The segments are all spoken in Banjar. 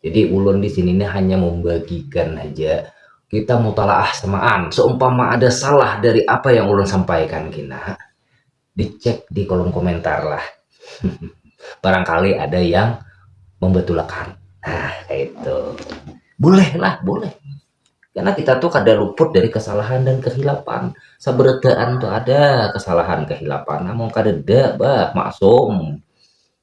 Jadi ulun di sini nih hanya membagikan aja kita mutalaah semaan. Seumpama ada salah dari apa yang ulun sampaikan kina, dicek di kolom komentar lah. Barangkali ada yang membetulakan. Nah, kayak itu. Boleh lah, boleh. Karena kita tuh kada luput dari kesalahan dan kehilapan. Saberetaan tuh ada kesalahan kehilapan. Namun kada bah, maksum.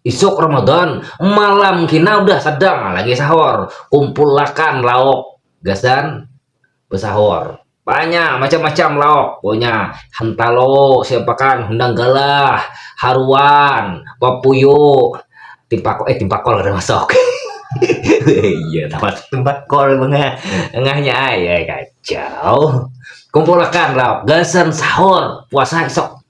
Isuk Ramadan, malam kina udah sadang lagi sahur, kumpulakan lauk gasan besahur. Banyak macam-macam lauk punya, hentalo, siapakan, hundang galah, haruan, papuyu, timpakol, eh timpakol kada masuk. iya, tempat timpakol bengah, engahnya ay, ay kacau. Kumpulakan lauk gasan sahur puasa isuk.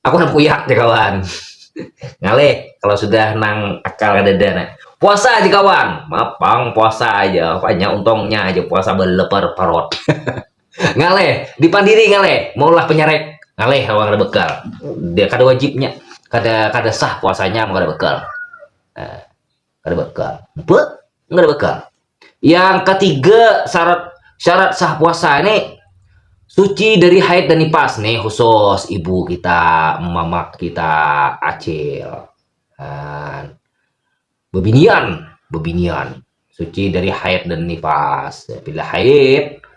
Aku nang kuyak ja kawan. Ngalih kalau sudah nang akal kadada nah. Puasa aja kawan, maaf pang puasa aja, apanya untungnya aja puasa baleper parut. ngalih, di pandiri ngalih, maulah penyarek, ngalih kalau kada bekal. Dia kada wajibnya, kada kada sah puasanya mun kada bekal. Nah. kada bakal napa kada bakal yang ketiga syarat syarat sah puasa ini suci dari haid dan nifas nih khusus ibu kita mamak kita acil nah, bebinian bebinian suci dari haid dan nifas bila haid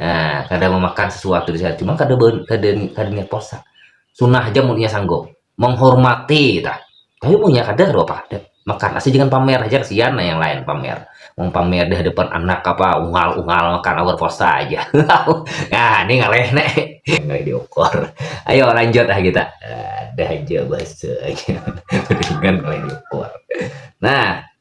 Nah, kada memakan sesuatu di sana, cuma kada kada kada niat puasa. Sunnah aja munnya sanggup. Menghormati tah. Tapi munnya kada rupa apa ada. Makan asal jangan pamer aja kasihan nah yang lain pamer. Mau pamer di hadapan anak apa ungal-ungal makan awal puasa aja. nah, ini ngaleh nek. Ngaleh diukur. Ayo lanjut lah kita. Ada aja bahasa aja. Dengan ngaleh diukur. Nah,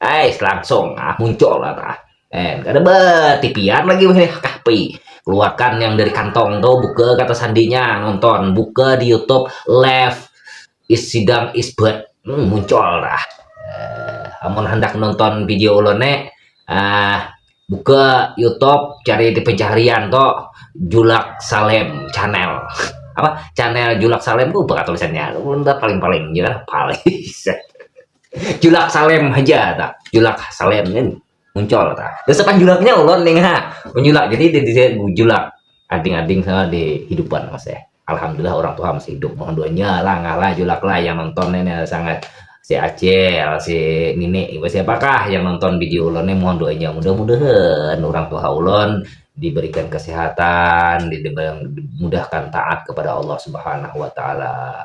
Ais langsung ah muncul lah tah. And kada batipian lagi weh kahpi. Keluarkan yang dari kantong tu buka kata sandinya nonton buka di YouTube left is sidang is bad. Hmm, muncul dah. Uh, amun hendak nonton video ulun ne uh, buka YouTube cari di pencarian tu Julak Salem channel. Apa? Channel Julak Salem tu apa tulisannya? Ulun paling-paling je paling. julak salem haja tak julak salem kan muncul tak terus apa julaknya ulon nih ha menjulak jadi di, di, di julak ading-ading sama di hidupan mas ya alhamdulillah orang tua masih hidup mohon doanya lah ngalah julak lah yang nonton ini sangat si Acel, si Nini, ibu siapakah yang nonton video ulon ini mohon doanya mudah-mudahan orang tua ulon diberikan kesehatan, dimudahkan taat kepada Allah Subhanahu wa taala.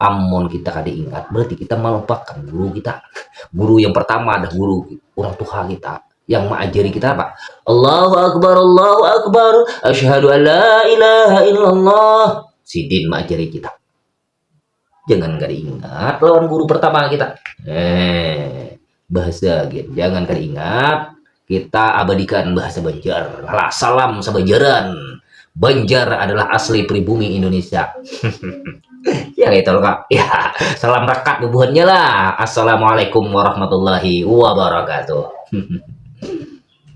Amun kita kada ingat berarti kita melupakan guru kita. Guru yang pertama adalah guru orang tua kita yang mengajari kita apa? Allahu Akbar, Allahu Akbar, asyhadu an la ilaha illallah. Sidin mengajari kita. Jangan kada ingat lawan guru pertama kita. Eh, Bahasa gin, jangan kada ingat, kita abadikan bahasa Banjar. Alah, salam sabanjaran. Banjar adalah asli pribumi Indonesia. ya itu loh kak. Ya, salam rekat bubuhannya lah. Assalamualaikum warahmatullahi wabarakatuh.